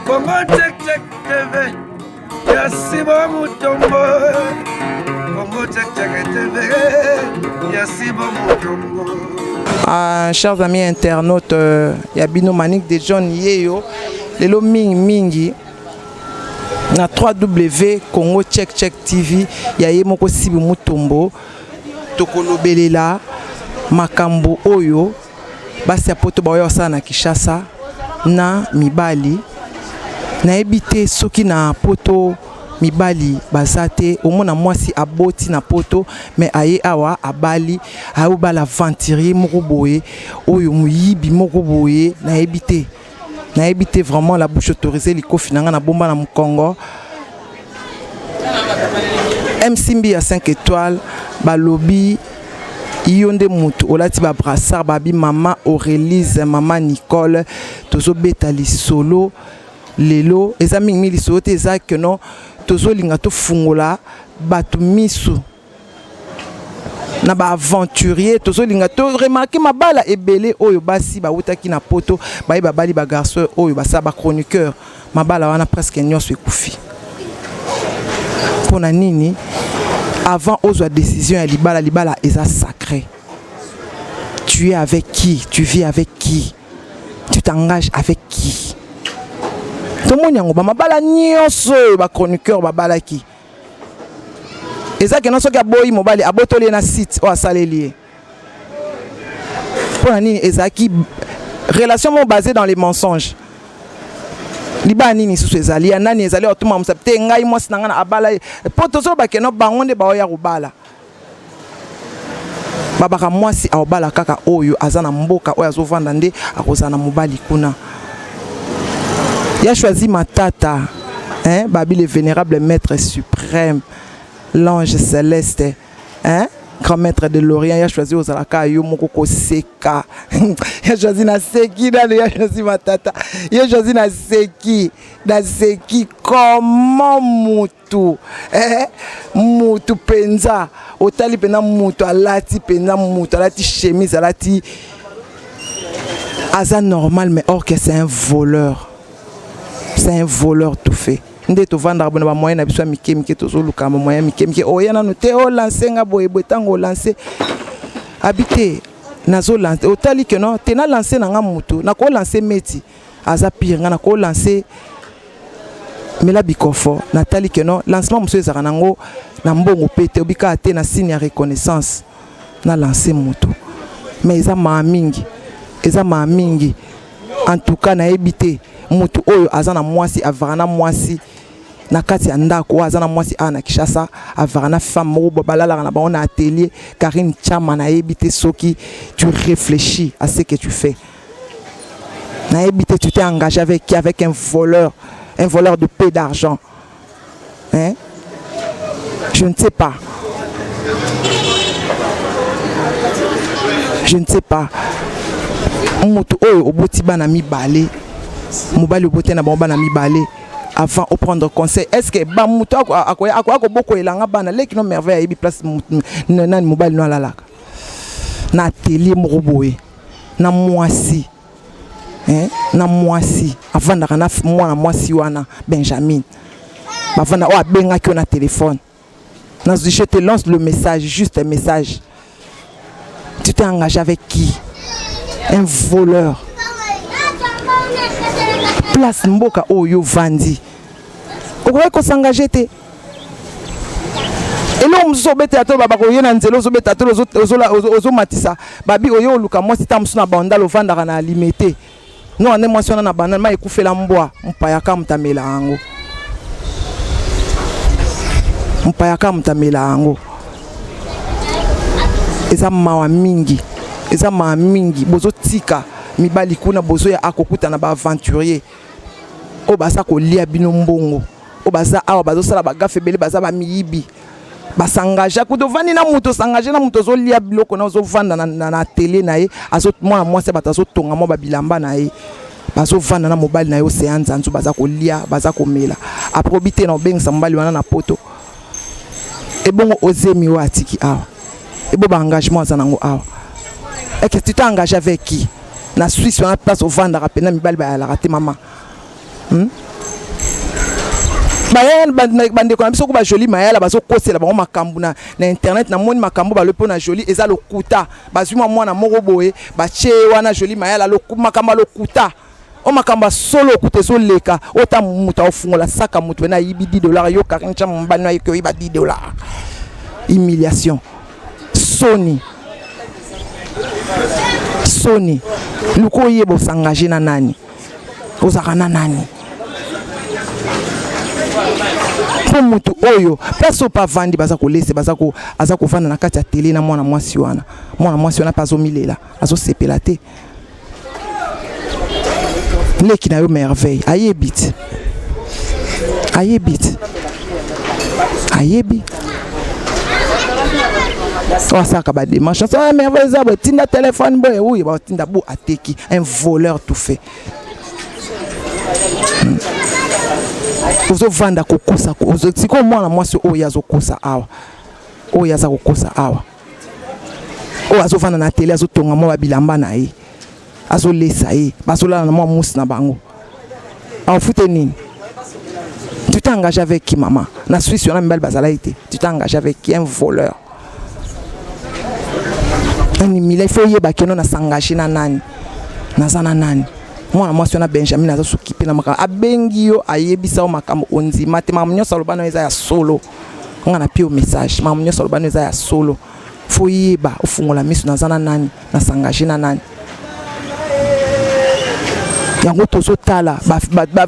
Congo Check Check TV ya Simon Mutombo Congo Check Check TV ya Simon Mutombo Ah, chers amis internautes euh, ya bino Manick de John yeyo lelo mingi mingi na 3W Congo Check Check TV ya ye moko Sibi Mutombo tokolobelela makambo oyo basi ya poto baoya kosala na kinshasa na mibali nayebi te soki na poto mibali baza te omona mwasi aboti na poto me aye awa abali ayobala aventurier moko boye oyo moyibi moko boye nayebi te nayebi te vraiment la bouche autorisée likofi na ngai nabomba na mokongo mcmbi ya 5 étoile balobi yo nde motu olati babrassard babi mama aurélise mama nicole tozobeta lisolo lelo eza mingimingi lisolo te eza keno tozolinga tofungola bato miso na ba aventurier tozolinga to remarke mabala ebele oyo basi bawutaki na poto baye babali ba garçon oyo basala ba chroniqueur mabala wana presque nyonso ekufi mpo na nini avant ozwa décision ya libala libala eza sacré tu es avec qui tu vis avec qui tu t'engages avec qui tomoni yango bamabala nyonso oyo bachroniqueur babalaki eza kena soki aboyi mobali abotoli ye na site oyo asaleli ye mpo na nini ezalaki relation moko basé dans les mensonges libala nini lisusu ezali ya nani ezali otuma mosapi te ngai mwasi na ngai na abala ye mpo tozoloba keno bango nde baoya kobala babaka mwasi aobala kaka oyo aza na mboka oyo azovanda nde akozala na mobali kuna ya choisi matata hein? babi le vénérable maître suprême l'ange céleste hein? grand maître de l'orient ya choisi ozalaka yo moko koseka ya choisi naseki nano ya choisi matata ya choisi naseki naseki comment moto mutu eh, mutu penza otali pena mutu alati pena mutu alati chemise alati aza normal mais or que c'est un voleur c'est un voleur tout fait nde tovandaka bona bamoyen na biso ya mike mike tozoluka bamoyen ya mike mike oya nano te olanse nga boye boye ntango olanse abi te nazolanse otali ke no te nalanse na nga motu nakolanse meti aza pire nga na ko lancer mela bikofo natali que non lancement mosusu ezalaka nango na mbongo mpe te obikaa te na signe ya reconnaissance na lance moto mais eza maa mingi eza maa mingi en tout cas nayebi te moto oyo aza na mwasi avaka na mwasi na kati ya ndako oyo aza na mwasi awa na kinshasa avaka na femme moko balalaka na bango na atelier karine chama nayebi te soki tu réfléchis à ce que tu fais nayebi te tu t'es engagé avec qui avec un voleur un voleur de peu d'argent hein je ne sais pas je ne sais pas moto oyo oboti bana mibale mobali obote na bango bana mibale avant au prendre conseil est ce que ba moto akoya kobokoyela nga bana leki no merveille ayebi place nani mobali no alalaka na atelier moko boye na mwasi eh, na mwasi avandaka na mwana mwasi wana benjamin bavanda oyo abengaki yo na telefone nazwi je te lance le message juste un message tu t'es engagé avec qui un voleur place mboka oyo ovandi okoki kosangaje te eloko mosusu obetela to baba koye na nzela ozobeta to ozomatisa babi oye oluka mwasi ntango mosusu na bandal ofandaka na alime te no ande mwasi wana na bandal ma ekufela mbwa mpaya ka motamela yango mpaya ka motamela yango eza mawa mingi eza mawa mingi bozotika mibali kuna bozoya akokutana baaventurier oyo baza kolia bino mbongo oyo baza awa bazosala bagafe ebele baza bamiyibi basangage kutu ovandi na moto osangage na moto ozolia biloko na ozovanda na atelier na ye mwana mwasi ya bato azotonga mwa babilamba na ye bazovanda na mobali na ye oseya nzanzu baza kolia baza komela apres obi te na obengisa mobali wana na poto ebongo ozemi oyo atiki awa ebo baengagement aza nango awa eke tu t'engage avec qui na swisse wana place ovandaka mpena mibali bayalaka te mama hmm? mayala bandeko na biso ko bajoli mayala bazokosela bango makambo na, na internet namoni makambo balobi mpo na joli eza lokuta bazwi mwa mwana moko boye batye ye wana joli mayala loku, makambo ya lokuta o makambo ya solo okuta ezoleka oyo ta moto aofungola saka moto ena ayibi 10 dollar yo karin cha mobali na yoki oyiba 10 dollar humiliation soni soni luka oyeba osangage na nani ozalaka na nani mpo motu oyo place oyo mpe avandi baza kolese baza ko, aza kovanda na kati ya tele na mwana mwasi wana mwana mwasi wana mpe azomilela azosepela te leki na yo merveille ayebi te ayebi te ayebi oyo asalaka bademarche ah, merve eza boye tinda telefone boye oyo batinda bo ateki un voleur tout fait hmm. ozovanda kokosa sikoyo mwana mwasi oyo azokosa awa oyo aza kokosa awa oyo azofanda na tele azotonga mwa babilamba na ye azolesa ye bazolala na mwa musi na bango afute nini tu t'es engagé avec qui mama na swisse wana mibali bazalaki te tu t'es engagé avec qui un voleur animila il faut oyeba keno na s'engage na nani naza na nani mwana mwasi wana benjamin aza sokipe na makambo abengi yo ayebisa yo makambo ondima te makambo nyonso aloba nayo eza ya solo nga na pio message mamu nyonso alobani eza ya solo fo yeba ofungola miso naza na nani na s'engage na nani yango tozotala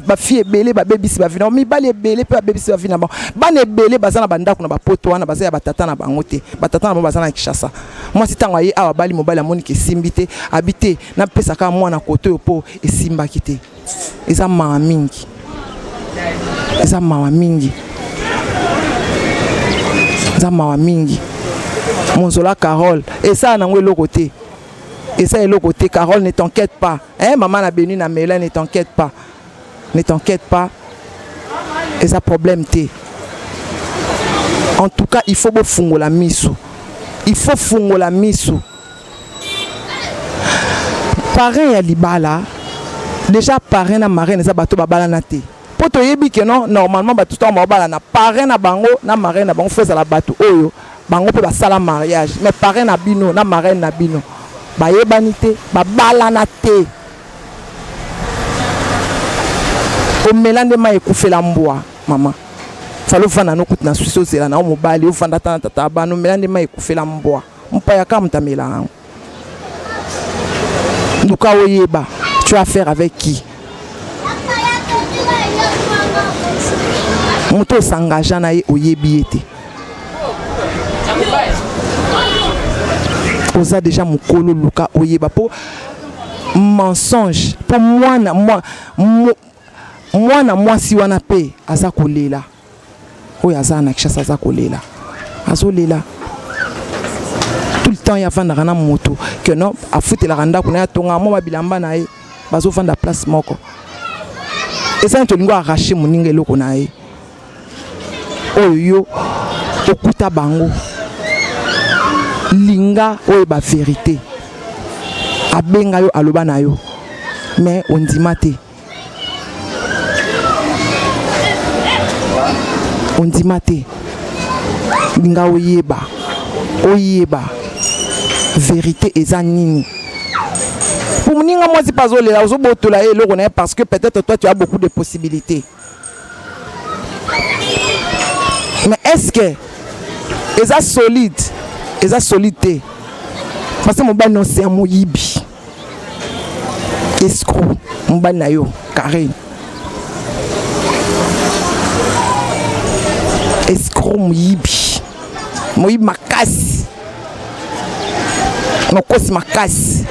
bafille ebele babebisi bavi na bango mibali ebele mpe babebisi bavi na bango bana ebele baza na bandako na bapoto wana baza ya batata na bango te batata na bango baza na kinshasa mwasi ntango aye awa abali mobali amoniki esimbi te abi te napesa kaka mwana koto oyo mpo esimbaki te eza mawa mingi eza mawa mingi eza mawa mingi monzola carole esala nango eloko te eza eloko te carole ne t'enquête pas eh, mama na benu na mela ne t'enquête pas ne t'enquête pas eza problème te en tout cas il faut bofungola miso il faut fungola miso parrain ya libala déjà parrain na marraine eza bato babalana te mpo toyebi ke non normalement bato ntango baobalana parrain na bango na marraine na bango fo ezala bato oyo bango mpe basala mariage mais parrain na bino na marraine na bino bayebani te babalana te omela nde mai ekufela mbwa mama fali ofanda nokuti na swisi ozela na yo mobali ofanda ata na tata abana omela nde mai ekufela mbwa Mpaya Kamta mela yango. Luka oyeba, tu as faire avec qui? Moto osangagea na ye oyebi ye te. Oza deja mokolo luka oyeba po mensonge po mwana mwana mwasi wana pe aza kolela. oyo aza na Kinshasa aza kolela azolela tout le temps ye afandaka na moto que non afutelaka ndako na ye atongaka mwa babilamba na ye bazofanda place moko eza neti olingi arrache moninga eloko na ye oyo yo okuta bango linga oyo ba verite abenga yo aloba na yo mais ondima te ondima te nga oyeba oyeba verite eza nini po moninga mwasi mpe azolela ozobotola ye eloko na ye parce que peut-être toi tu as beaucoup de possibilités mais est-ce que eza solide eza solide te parce que mobali na ose ya moyibi escro mobali na yo carine escro moyibi moyibi makasi mokosi makasi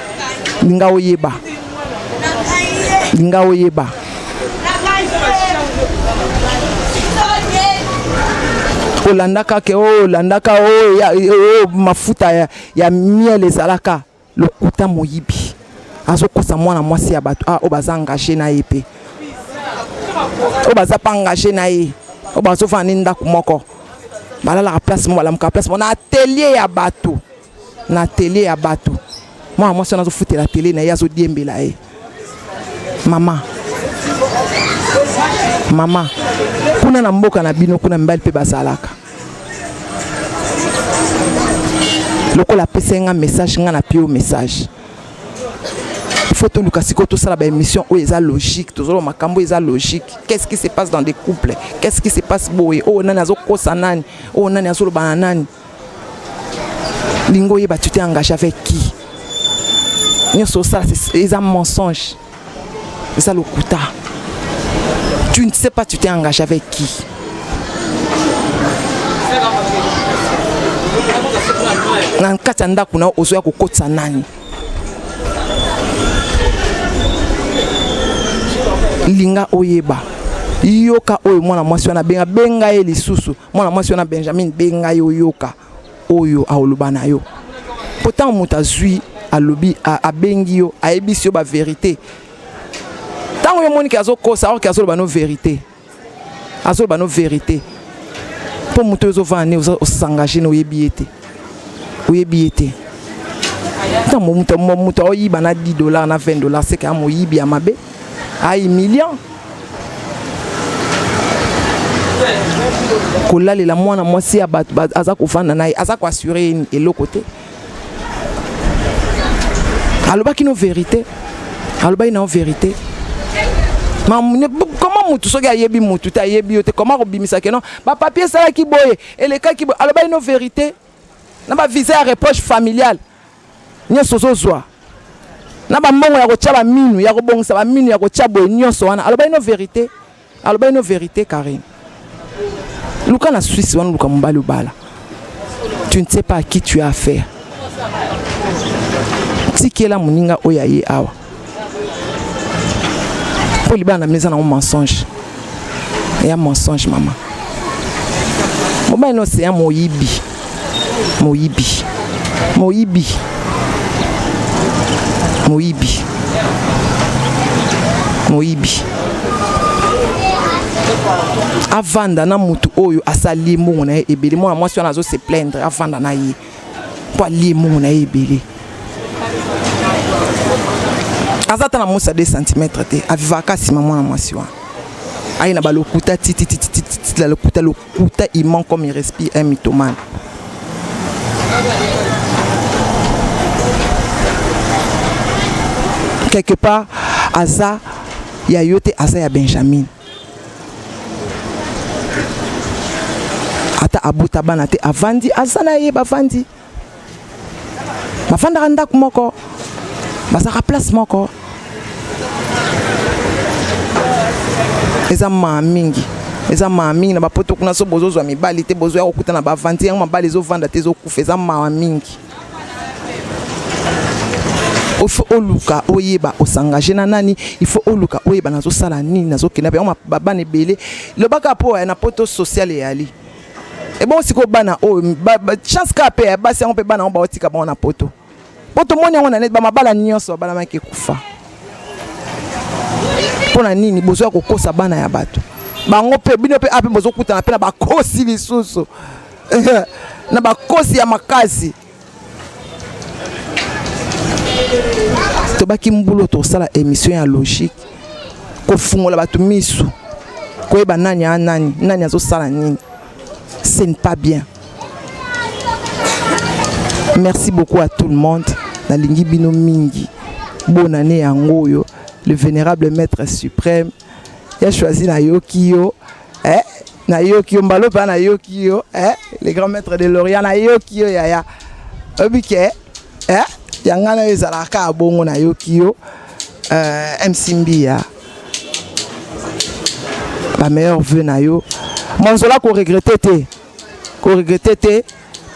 linga oyeba linga oyeba olandaka ke olandaka oh, oh, oh, mafuta ya, ya miel ezalaka Lokuta moyibi azokosa mwana mwasi ya bato ah, oyo baza engage na ye mpe oyo baza mpe engage na ye oyo bazofanda ni ndako moko balalaka place moko balamuka place moko na atelier ya bato na atelier ya bato mwana mwasi wana azofutela atelier na ye azodiembela ye mama mama kuna na mboka na bino kuna mibali mpe bazalaka lokola apesaki nga message nga na pio message faut toluka sikoyo tosala baémission oyo eza logique tozoloba makambo eza logique qu'est-ce qui se passe dans des couples qu'est-ce qui se passe boye oyo oh, nani azokosa nani oyo oh, nani azoloba na nani lingo oyeba tu t'es engage avec qui nyonso osala eza mensonge eza lokuta tu ne sais pas tu t'es engagé avec qui na kati ya ndako na ozoya kokotisa nani linga oyeba yoka oyo mwana mwasi wana benga benga ye lisusu mwana mwasi wana benjamin benga ye oyoka oyo aoloba na yo mpo ntango moto azwi alobi abengi yo ayebisi yo baverité ntango yo omoni ke azokosa orke azoloba no verité azoloba no verité mpo moto oyo ozovanda ne osangage na oyebi ye te oyebi ye te ntango moto aoyiba na 10 dollar na 20 dollar seke ya moyibi ya mabe a humiliant kolalela mwana mwasi ya bato aza kofanda na ye aza koassure ye eloko te alobaki no verité alobaki nao verité comment mutu soki ayebi mutu te ayebi yo te comment kobimisaki no bapapier esalaki boye elekaki boye alobaki no verité na bavisa ya reproche familiale nyonso ozozwa na bambongo ya kotya baminu ya kobongisa baminu ya kotya boye nyonso wana alobaki no verité alobaki no verité karine luka na swisse wana luka mobali obala tu ne sais pas à qui tu as affaire tikela moninga oyo aye awa mpo libala na bino eza nango mensonge ya mensonge mama mobali no seya moyibi moyibi moyibi moyibi moyibi avanda na motu oyo asali ye mbongo na ye ebele mwana mwasi wana azo se plaindre avanda na ye mpo alie mbongo na ye ebele aza ata na mosa 2 cm te avivaka nsima mwana mwasi wana aye na balokuta titititititi la lokuta lokuta iman comme il respire un mythomane quelque part aza ya yo te aza ya benjamin ata abota bana te avandi aza na ye bavandi bafandaka ndako moko bazalaka place moko eza maa mingi eza maa mingi na bapoto kuna so bozozwa mibali te bozwa ya kokuta na bavandi yango mabali ezovanda te ezokufa eza mawa mingi il faut oluka oyeba osengage na nani il faut oluka oyeba nazosala nini nazokenda yango babana ebele lobaka mpo eh, na poto sociale eyali ebongo sikoyo bana oyo oh, chance kaka mpe ya eh, basi yango mpe bana yango baotika bango na poto mpo tomoni yango na neti bamabala nyonso babalamaki ekufa mpo na nini bozo ya kokosa bana ya bato bango mpe bino mpe ape ah, bozokutana mpe na bakosi lisusu na bakosi ya makasi tobaki mbulo tosala émission ya logique kofungola bato misu koyeba nani a nani nani azosala nini ce n'est pas bien merci beaucoup à tout le monde nalingi bino mingi bonne année yango oyo le vénérable maître suprême ya choisi nayoki yo eh nayoki yo mbalo mpe nayoki yo eh le grand maître de l'orient nayoki yo yaya oyebi ke eh yanga nayo ezalaka kaka bongo nayoki yo euh, msimbiya ba meilleur vœu na yo monzola koregrete te koregrete te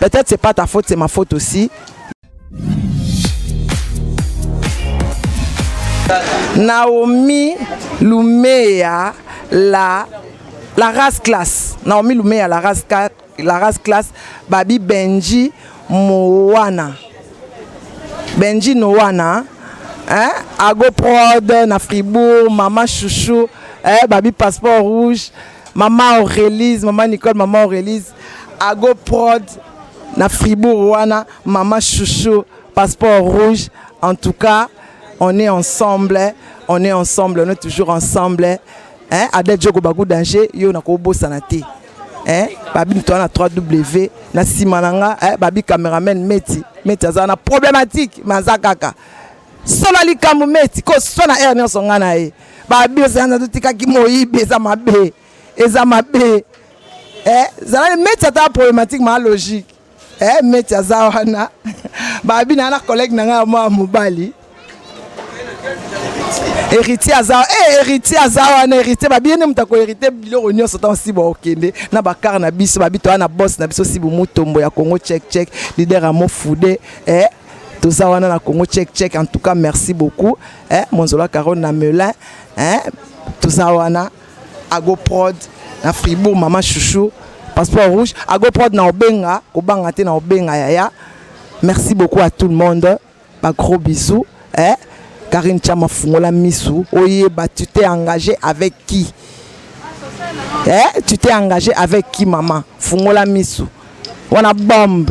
peut-être c'est pas ta faute c'est ma faute aussi Naomi Lumea la la race classe Naomi Lumea la race la race classe Babi Benji Moana Benji Noana hein Ago Prod na Fribourg Mama Chouchou eh Babi passeport rouge Mama Aurelise, Mama Nicole, Mama Aurelise, Ago Prod, na Fribourg wana, Mama Chouchou, Passeport Rouge. En tout cas, on est ensemble, on est ensemble, on est toujours ensemble. Hein? Adel Djogo Bagou Danger, yo na ko bosana te. Hein? Babi nitoa na 3W, na sima na nga, hein? Babi cameraman Meti, Meti aza na problématique, mais aza kaka. sala likambo meti koswa na aire nyonso ngai na ye babirsanza totikaki moyibi eza mabe eza mabe eh, zala meti ata problématique maa logique eh, meti aza wana babi na na collègue na ngai ya mwa mobali héritier aza eh, héritier aza wana héritier babi ye nde moto akoherite biloko nyonso ntango si baokende na bakar na biso babi toya na bosse na biso si bomutombo ya congo check check lider ya mofude eh, toza wana na congo check check en tout cas merci beaucoup eh, monzola carole na melin eh, toza wana agoprod na fribourg mama chouchou passeport rouge agoprod na obenga kobanga te na obenga yaya merci beaucoup à tout le monde ba gros bisous eh, karine chama fungola misu oyeba tu t'es engagé avec qui eh, tu t'es engagé avec qui mama fungola misu wana bombe